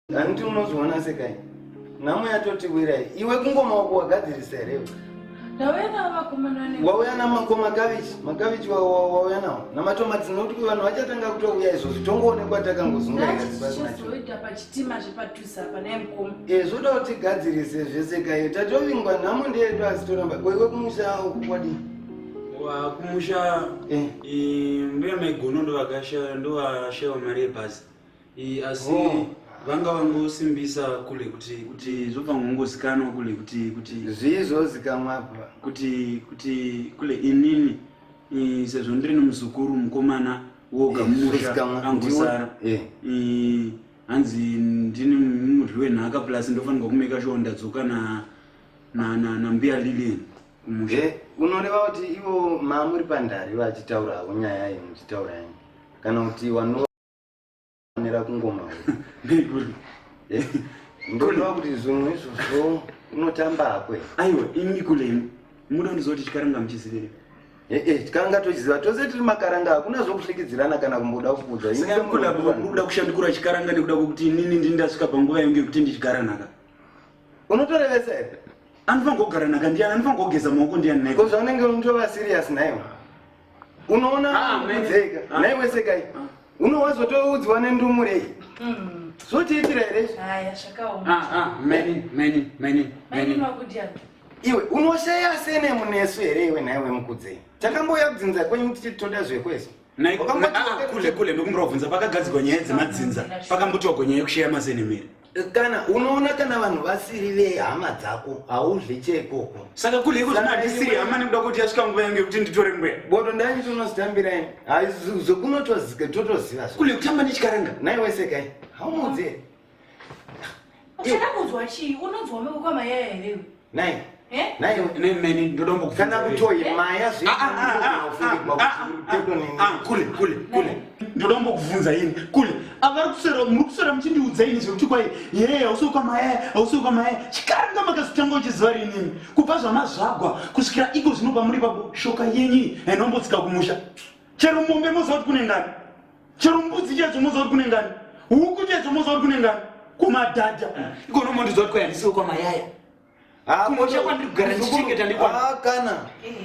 Handiti unozviona sekai? Nhamo yatotiwira iyi. Iwe kungoma wako wagadzirisa here iwe? Ndauya nawo vakomana ne. Wauya na mako makavichi, makavichi wauya nawo. Na matomatsi nokuti kuva vanhu vachatanga kutouya izvo zvitongoonekwa takangozunga ika zibasa nacho. Ndazvizoita pachitima zvepatusa apa naye mukoma. Eh zvoda kuti gadzirise zvese kaye. Tatovingwa nhamo ndeyedu asi toramba. Wewe kumusha ukwadi. Wa kumusha eh, eh mbuya maigono ndo vakashaya ndo vashaya mari yebhazi. Eh, asi oh. vanga vangosimbisa kule kuti kuti zvobva ngongozikanwa kule kuti kuti zvii zvozikanwa apa kuti kuti kule inini eh, sezvo ndiri nomuzukuru mukomana woga eh, mumusha angosara eh. hanzi ndini mudyi wenhaka plus ndofanirwa kumeka shuwa ndadzoka na na na nambuya lilian kumusha unoreva kuti ivo maamuri pandari vachitaura havo nyaya iyi muchitaura yani kana kuti wano nera kungoma ndikuri eh? ndondiwa kuti zvimwe izvozvo unotamba hakwe aiwa imi kulemi muda ndizoti chikaranga muchizivire ee eh, eh, tikanga tochiziva tose tiri makaranga hakuna zvokusvikidzirana kana kumboda kukuudza kuda kushandukura chikaranga nekuda kwekuti inini ndini ndasvika panguva yangu yekuti ndichigaranaka unotorevesa here anofanira kugaranaka ndiani anofanira kugeza maoko ndiani naiko zvaunenge unotovasirias naiwa unoona kudzeka ah, ah. nai wesekai ah. unowazotoudzwa nendumure iyi mm. zvotiitira here iwe unoshaya sene munesu here iwe nhai wemukudzei takambouya kudzinza kwenyu kuti toda zvekwese kule kule ndokumbira kubvunza pakagadzirwa nyaya dzemadzinza pakambotiwa gonyaya yekushaya mazenemere kana unoona kana vanhu vasiri vehama dzako hauzve cheikoko saka kule iko zvino handisiri hama nekuda kuti yasvika nguva yange kuti nditore mbweya bodo ndani tonozitambiraini zvekunotozike totoziva kule kutamba nechikaranga nai wese kai haumudzie uchada kunzwa chii unonzwa meuko mayaya here Nai. Eh? Nai ne meni ndodombo kufana kutoyi maya zvi. Ah ah ah ah. Kule kule kule. Eh? Ndodombo kuvunza ini. Kule. Avari kusero muri kusero mchindi udza ini zvekuti kwai. Yeye ausi kwa maya, ausi kwa maya. Chikaranga makasitanga uchiziva rini. Kubva zvamazvagwa kusvikira iko zvinopa muri babo shoka yenyi. Enombo tsika kumusha. Chero mombe moziva kuti kune ngani. chero mbudzi chedzo unozoti kune ngani huku chedzo unozoti kune ngani kumadhadha ikono mondizoti kwaya ndisiwo kwamayaya kumosha kwandiri kugara ndichichengeta ndikwana kana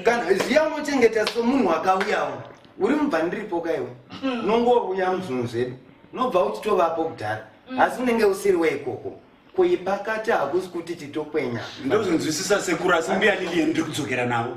kana ziya unochengeta somunhu wakauyawo uri mubva ndiripo kaiwe hmm. nongouya muzvinhu zvedu nobva uchitovapo kudhara hmm. asi unenge usiri weikoko kuipakati hakusi kuti titokwenya ndozvinzwisisa sekuru asi mbiyani liye ndiri kudzokera navo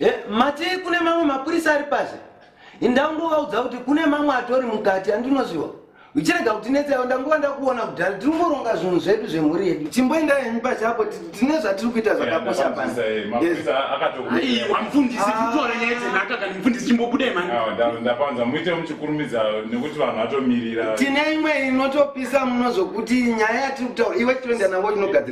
Eh, mati kune mamwe mapurisa ari pazhe indangovaudza kuti kune mamwe atori mukati andinozviwa uchirega kuti netseyo ndangova ndakuona kudhara tiri kungoronga zvinhu zvedu zvemhuri yedu timboenda henyu pachapo tine zvatiri kuita zvakakosha panoamfundisi kutora nyaya dzenaka kana mfundisi chimbobudai mandapanza muite muchikurumidza nekuti vanhu vatomirira tine imwe inotopisa muno zvokuti nyaya yatiri kutaura iwe chitoenda navo inogadzira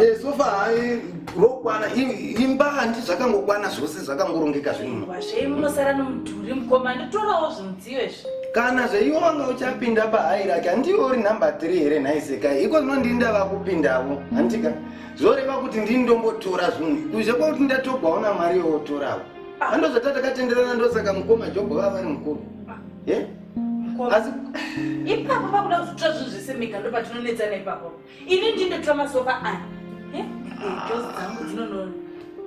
Eh, sofa hayi rokwana imba handi zvakangokwana zvose zvakangorongeka zvinokana zveiwo wanga uchapinda pahayi rake handiwo uri number three here nhaisekai iko zvino ndini ndava kupindavo handika zvoreva kuti ndini ndombotora zvinhu kuzve kwakuti ndatogwawo namwari yowotoravo ah. andozvata takatenderana ndosaka mukoma jobho vava vari mukuru ah. eh? asi ipapo pakuda kuzotora zvinhu zvese mega ndo patinonetsana ipapo ini ndindotora masofa aya eh? jozi dzangu dzinonoona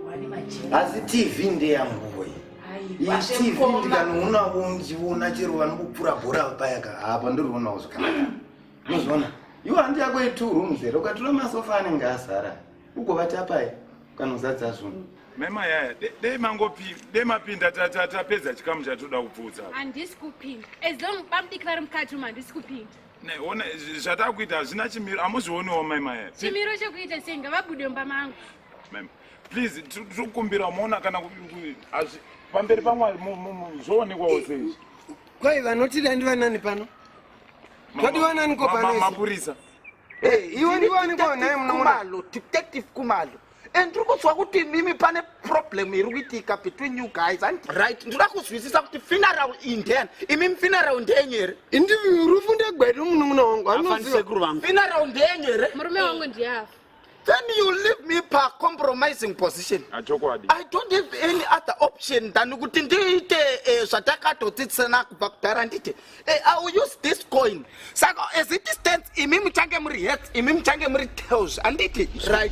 wani majini asi tv ndeyanguwe tv ndikanoonavo ndichiona chero vanokupfura bhora paya ka apa ndirionawo zvakanaka unoziona iwo handi yako itwo rooms here ukatora masofa anenge asara ugovata pai kanozadza zvunhu mema yaya dei mangopi dei mapinda tapedza chikamu chatoda kupfuudza handisi kupinda as long bamudiki vari mukati umu handisi kupinda neona zvatakuita hazvina chimiro amuzvioniwo mema yaya chimiro chekuita sei ngavabude mumba mangu mema please tiri kukumbira umaona kana pamberi pamwari zvoonekwawo sei kwai vanotida ndivanani pano todiwananiko pano mapurisa iwe ndiwaniko nhai munoonalo detective kumalo and ndiri kuziva kuti mimi pane problem iri kuitika between you guys and right ndinoda kuzwisisa kuti funeral indhen imimi funeral ndenyu here indi rufu ndegwedu munun'una wangu anoziva funeral ndenyu here murume wangu ndiyafa then you leave me pa compromising position ah, chokwadi i don't have any other option than kuti ndiite eh, zvatakatotsitsana kubva kudhara ndite eh, i will use this coin saka as it stands imi muchange muri heads imi muchange muri tails anditi right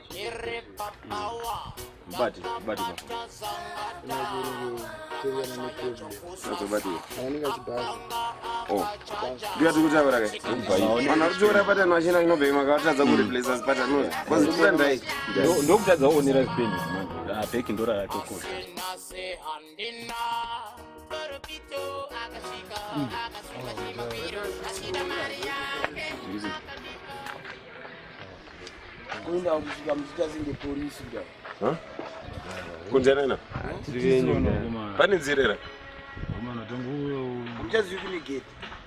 Bati, bati bati. Oh. Dia tu kuja berapa? Mana tu juara pada nasi nang no bema kau tak zagur replace as pada no. Kau sudah dah. Dok dok tak zagur ni ras pin. Ah, pekin dora tu kau. kuenda kusvika muchitazinge polisi kuda kunze nena pane nzira era muchazivi kune gate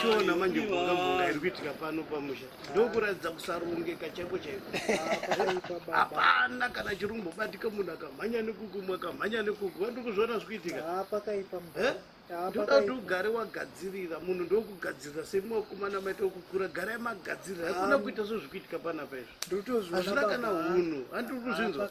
tiona manje kungambonga iri kuitika pano pamusha ndokuratidza kusarongeka chaiko chaiko hapana kana chirumbo batika munhu akamhanya nekuku mwe akamhanya nekuku wandi kuzviona zvikuitika ndoda kuti ugare wagadzirira munhu ndokugadzirira semuwakomana maita okukura gara yamagadzirira hakuna kuita sezvikuitika panapa izvo hazvina kana hunhu handiri kuzvinzwa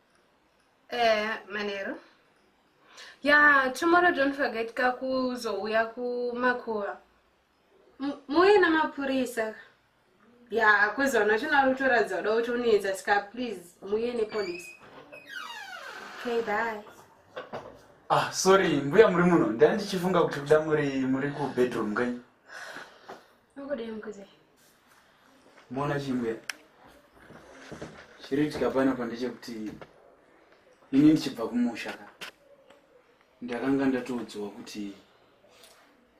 eh, manero ya yeah, tomorrow don't forget ka kuzouya kumakuva muuye namapurisa ya yeah, kuzoona chinorutoradza uda kuti unoedza sika please muuye nepolice okay bye ah sorry mbuya muri muno ndandichifunga kuti kuda muri muri kubedroom kai Ungodei mukudzi. Mona chimwe. Chiri chikapana pandeche kuti ini ndichibva kumusha ka. Ndakanga ndatoudzwa kuti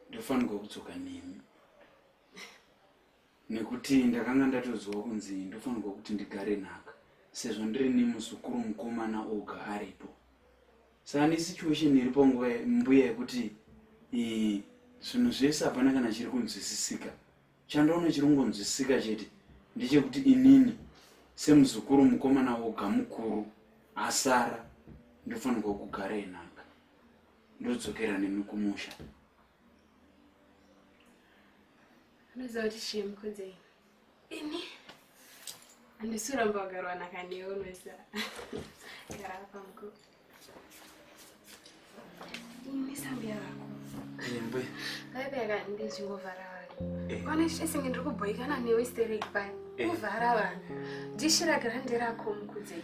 ndofanirwa kudzoka nemi. Nekuti ndakanga ndatoudzwa kunzi ndofanirwa kuti ndigare nhaka sezvo ndiri nemuzukuru mukomana oga aripo. Saka nesituation iripo nguva mbuya yekuti zvinhu zvese hapana kana chiri kunzwisisika chandoona chiri kungonzwisisika chete ndechekuti inini semuzukuru mukomana woga mukuru asara ndofanirwa kugara enhanga ndodzokera nemi kumusha unoziva kuti chii mukunzei ini handisi kuramba kugarwanaka newe noisa gara apa muko ini sambiya vako mbuya vaipeka ndichingovhara vanhu kwana chichesenge ndiri kubhoikana newe stereki paya kuvhara vanhu dishira grande rako mukudzei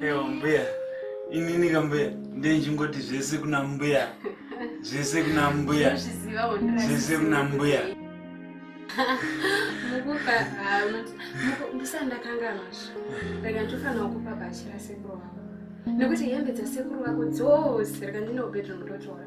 Ewa mbuya, inini kambuya ndenjingoti zvese kuna mbuya. Zvese kuna mbuya. Zvese kuna mbuya. Mukupa ah, ndisandakanganwa zvo. Rega ndofana kukupa bhachi rasekuru wako. Nekuti hembe dzasekuru wako dzose rega ndine ubedroom ndotora.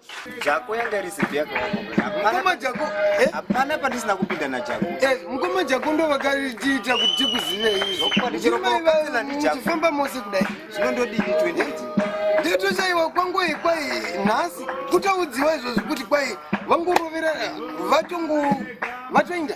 Jako yanga iri zipi yako mukoma jako eh? hapana pandisina kupinda najako eh, mukoma jako ndo vakatiita kuti tikuziveizvofamba mose kudai zvino ndodii 28 nditoshaiwa kwangoi kwai nhasi kutaudziwa izvozvi kuti kwai vangurovera vatongo vatoinda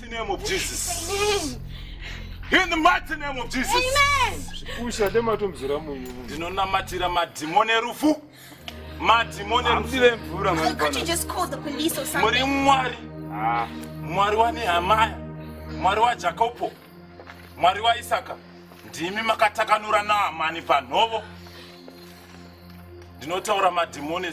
name of Jesus. Amen. In the mighty name of Jesus. Amen. Pusha ndematomzira munyu. Ndinonamatira madhimoni erufu. Madhimoni erufu. Mvura mwana. Could you just call the police or something? Muri mwari. Ah. Mwari wa Nehemiah. Mwari wa Jacobo. Mwari wa Isaka. Ndimi makatakanura Naamani panhovo. Ndinotaura madhimoni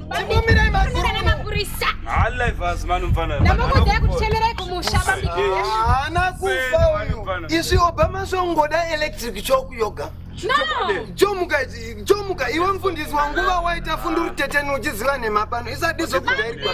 izvi obama zvongoda electric choku yoga jomuka iwe mfundisi wanguva waita funduru teteni uchiziva nhema pano isadizokudairia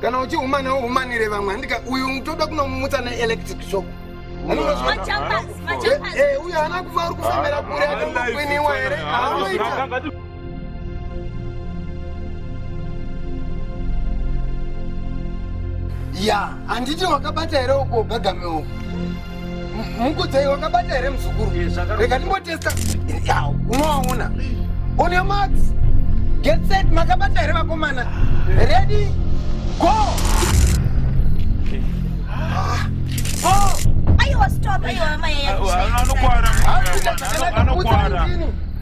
kana uchihumana uhumanire vamwe handika uyu toda kunomumutsa neelectric shop uyu haana kuva uri kufambira kure akangokwiniwa here aanoita ya handiti wakabata here uko gagame uko Mukudzai wakabata here muzukuru? Rega ndimbotesta. Yawo, unowaona. On your marks. Get set, makabata here vakomana? Ready? Go! Go! Ayiwa stop, ayiwa amai. Anokwara. Anokwara.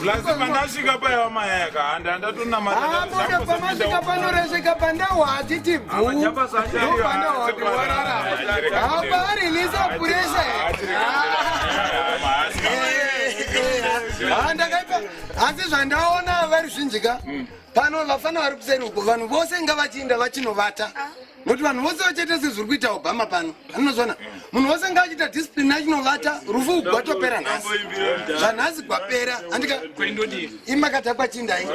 plus pandasvika paiva mayaka handi handatonamataapamasvika panoresvika pandawa hatiti bhuuaaarilisa puresha handakaipa asi zvandaona vari zvinjika pano vafana vari kuseri uko vanhu vose ngavachiinda vachinovata ah. nokuti vanhu vose vachaita sezviri kuita obama pano anozvona munhu wose nga achiita discipline achinovata rufu uku gwatopera nhasi zvanhasi gwapera andika imakadhakwa chindai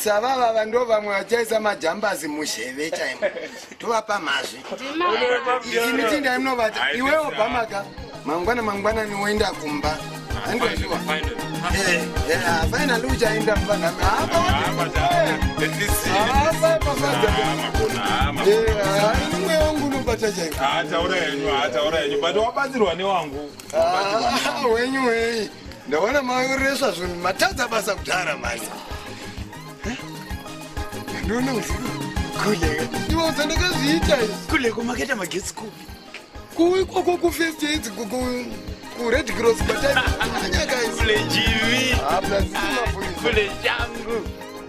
savavava ndo vamwe vachaisa majambazi muzheve chaimo tovapa mazwi izi mitinda imunovata iwe obamaka mangwana mangwanani woenda kumba andoziwa fainali uchaenda mbanamaaaaimwe wangu unobata chaiwabatsirwa newangu wenyu wei ndaona maureswa zvinhu matadza basa kudhara mani Ndoona usiku. Kuleka. Ndiwo sandakazviita. Kuleka maketa magetsi kupi? Kuwi koko ku first aid ku ku ku red cross batani. Kule jivi. Kule jangu.